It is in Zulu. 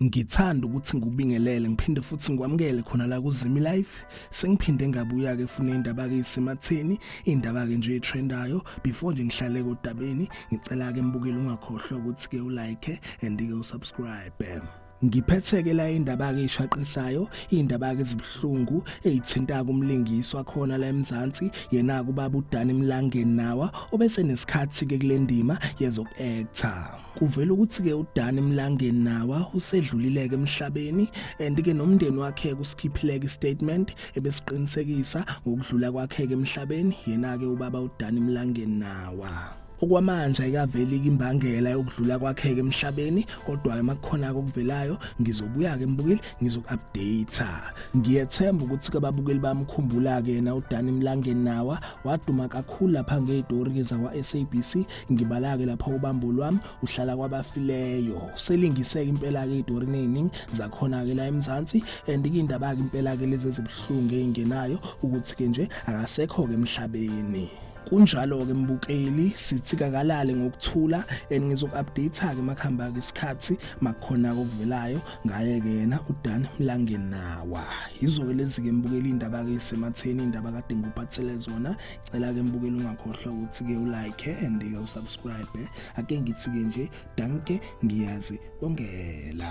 ngithanda ukuthi ngikubingelele ngiphinde futhi ngikwamukele khona la kuzimi life sengiphinde ngabuya ke funa indaba ke isematheni indaba ke nje etrendayo before nje ngihlale kodabeni ngicela ke mbukeli ungakhohlwa ukuthi ke ulike and ke usubscribe Ngiphetheke la indaba ke ishaqisayo, indaba ke zibuhlungu ezithinta kumlingiswa khona la eMzansi, yena kubaba uDani Mlangeni nawa obese nesikhathi ke kulendima yezok actor. Kuvela ukuthi ke uDani Mlangeni nawa usedlulile ke emhlabeni and ke nomndeni wakhe kusikhiphile ke statement ebesiqinisekisa ngokudlula kwakhe ke emhlabeni, yena ke ubaba uDani Mlangeni nawa. Okwamanje ayikaveli imbangela yokudlula kwakheke emhlabeni kodwa amakhona okuvelayo ngizobuya ke mbukeli ngizokupdate. Ngiyethemba ukuthi ke babukeli bamkhumbula ke yena uDani Mlangeni nawa waduma kakhulu lapha ngezitori zakwa SABC ngibala ke lapha ubambo lwami uhlala kwabafileyo. Selingiseke impela ke izitori neziningi zakhona ke la eMzansi and indaba ke impela ke lezi ezibuhlungu engenayo ukuthi ke nje akasekho ke emhlabeni. kunjalo-ke mbukeli sithi kakalale ngokuthula and ngizoku-update-ke makuhamba-ke isikhathi makukhona-ke okuvelayo ngaye-ke yena udan mlangenawa yizo-ke lezi-ke mbukeli iy'ndaba-ke isematheni iy'ndaba kade ngikuphathele zona cela-ke mbukeli ungakhohlwa ukuthi-ke ulike and-ke usubscribe ake ngithi-ke nje danke ngiyazi bongela